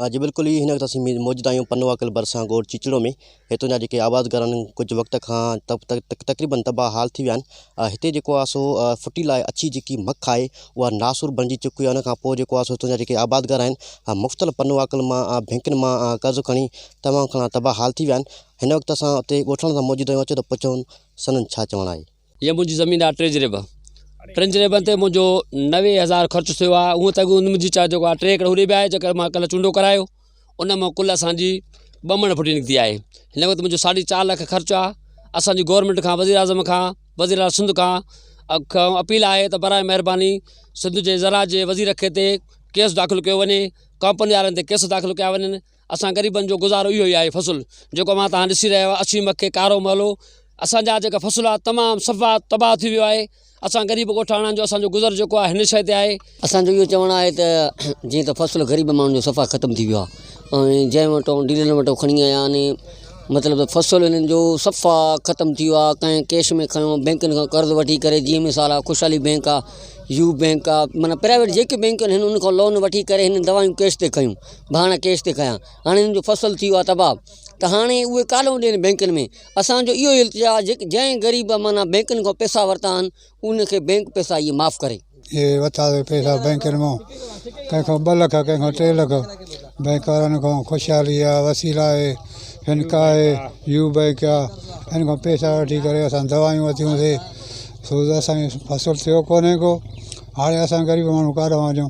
ها جي بلڪل اهي ئي هن تصوير ۾ موجود آهيون پنوا ڪل ڀرسان ڳوٺ چيچڙو ۾ هتان جا جيڪي آباد گهر آهن ڪجهه وقت کان تقريبن تباهه حال ٿي ويا آهن هتي جيڪو آهي سو ڦٽي لاء اڇي جيڪي مک آهي اها ناسور بڻجي چڪي آهي ان کان پوء جيڪو آهي سو هتان جا جيڪي آباد گهر آهن مختلف پنوا ڪل مان بينڪن مان قرض کڻي تمام گهڻا تباهه حال ٿي ويا آهن هن وقت اسان اتي ڳوٺاڻن سان موجود آهيون اچو ته پڇون سندن ڇا چوڻ آهي هيء منهنجي زمين آهي ٽي جريب ٽن جريبن تي منهنجو نوي هزار خرچ ٿيو آهي هونء ته اڳ منهنجي چا جيڪو آهي ٽي ايڪڙ هوڏي به آهي جيڪر مان ڪلهه چونڊو ڪرايو ان مئو ڪل اسانجي ٻه مڻ ڦٽي نڪتي آهي هن وقت منهنجو ساڍي چار لک خرچ آهي اسانجي گورنمينٽ کان وزير اعظم کان وزير اعلٰي سنڌ کان کان اپيل آهي ته براء مهرباني سنڌ جي زراعت جي وزير کي تي ڪيس داخل ڪيو وڃي ڪمپني وارن تي ڪيس داخل ڪيا وڃن اسان غريبن جو گذارو اهو ئي آهي فصل جيڪو اوهان تهان ڏسي رهيا آهيو اسي مڪي ڪارو مهلو اسان جا جيڪا فصل آهي تمام صفا تباهه ٿي ويو آهي اسان غريب ڳوٺاڻن جو اسان جو گذر جيڪو آهي هن شئي تي آهي اسان جو اهو چوڻ آهي ته جيئن ته فصل غريب ماڻهن جو صفا ختم ٿي ويو آهي ۽ جنهن وٽو ڊيلرن وٽو کڻي آيا آهن مطلب فصل هنن جو صفا ختم ٿي ويو آهي ڪنهن ڪيش ۾ کڻيو بينڪن کان قرض وٺي ڪري جيئن مثال آهي خوشحالي بينڪ آهي يو بينڪ آهي معنيٰ پرائيويٽ جيڪي بينڪ آهن هن ان کان لون وٺي ڪري هنن دوائيون ڪيش تي ڪيون ڀاڻ ڪيس تي ڪيا هاڻي هن جو فصل ٿي ويو آهي تباهه ته هاڻي اهي ڪاڏو ڏين بينڪن ۾ اسان جو اهو التجا آهي جيڪي جنهن غريب معنيٰ بينڪن کان پيسا ورتا آهن ان کي بينڪ پيسا اهي معاف ڪري. اهي ورتا ويا پيسا بينڪن مان ڪنهن کان ٻه لک ڪنهن کان ٽي لک بينڪ وارن کان خوشحالي آهي وسيل آهي فنڪا آهي يو بينڪ آهي ان کان پيسا وٺي ڪري اسان دوائيون ورتيوسي سو اسان جو فصل ٿيو ڪونهي ڪو هاڻي اسان غريب ماڻهو ڪاڏانهن وڃون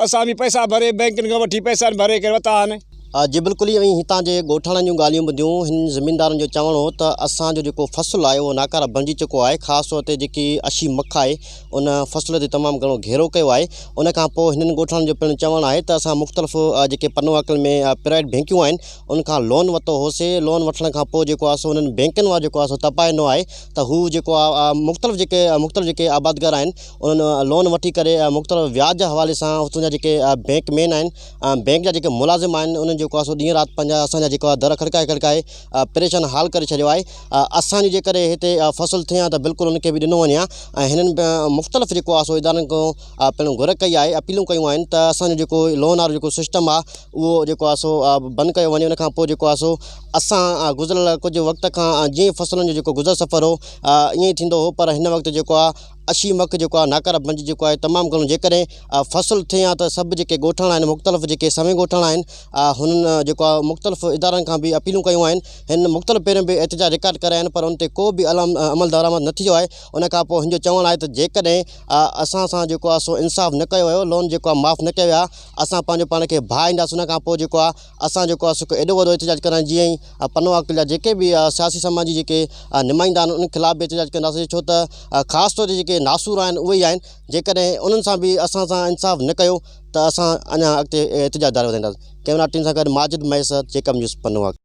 اسان به پئسا ڀري بئنڪن کان وٺي پئسا ڀري ڪري ورتا آهن. آء جي بلڪل ايئن ئي هتان جي ڳوٺاڻن جون ڳالهيون ٻڌيون. هن زميندارن جو چوڻ هو ته اسان جو جيڪو فصل آهي اهو ناڪاره بڻجي چڪو آهي. خاص طور تي جيڪي اشي مک آهي ان فصل تي تمام گهڻو گهيرو ڪيو آهي. ان کان پوء هنن ڳوٺاڻن جو پڻ چوڻ آهي ته اسان مختلف جيڪي پنوهاڪن ۾ پرائيويٽ بئنڪيون آهن ان کان لون ورتو هوسي. لون وٺڻ کان پوء جيڪو آهي سو انهن بئنڪن وارو جيڪو آهي سو تپائي ڏنو آهي ته هو جيڪو آهي مختلف جيڪي مختلف جيڪي آبادگار آهن انهن لون وٺي ڪري مختلف وياج جي حوالي سان اتان جا جيڪي بينڪ مين آهن بينڪ جا جيڪي ملازم آهن انهن جيڪو آهي سو ڏينهن رات پنهنجا اسان جا جيڪو آهي در کڙڪائي کڙڪائي پريشان حال ڪري ڇڏيو آهي اسان جي جي ڪري هتي فصل ٿئي ها ته بلڪل ان کي به ڏنو وڃي ها ۽ هنن مختلف جيڪو آهي سو ادارن کان پنهون گهر ڪئي آهي اپيلون ڪيون آهن ته اسان جو جيڪو لون وارو جيڪو سسٽم آهي اهو جيڪو آهي سو بند ڪيو وڃي ان کان پوء جيڪو آهي سو اسان گذريل ڪجهه وقت کان جيئن فصلن جو جيڪو گذر سفر هو ائين ٿيندو هو پر هن وقت جيڪو آهي اشي مک جيڪو آهي ناڪاره بنج جيڪو آهي تمام گهڻو جيڪڏهن فصل ٿين ها ته سڀ جيڪي ڳوٺاڻا آهن مختلف جيڪي سوين ڳوٺاڻا آهن هنن جيڪو آهي مختلف ادارن کان به اپيلون ڪيون آهن هنن مختلف پهريون به احتجاج رڪارڊ ڪرايا آهن پر ان تي ڪو به علام عمل درآمد نه ٿيو آهي ان کان پوء هن جو چوڻ آهي ته جيڪڏهن اسان سان جيڪو آهي سو انصاف نه ڪيو ويو لون جيڪو آهي معاف نه ڪيا ويا اسان پنهنجو پاڻ کي ڀاء اينداسين ان کان پوء جيڪو آهي اسان جيڪو آهي سو ايڏو وڏو احتجاج ڪرڻ جيئن ئي پنو عاقل جا جيڪي به سياسي سماجي جيڪي نمائندا آهن انهن خلاف به احتجاج ڪنداسين ڇو ته خاص طور تي جيڪي ناسور آهن اهي ئي آهن جيڪڏهن انهن سان به اسان سان انصاف نه ڪيو ته اسان اڃا اڳتي احتجاج جاري رکنداسين ڪئميرا ٽيم سان گڏ ماجد مهيسر جيڪب نيوز پنو عاقل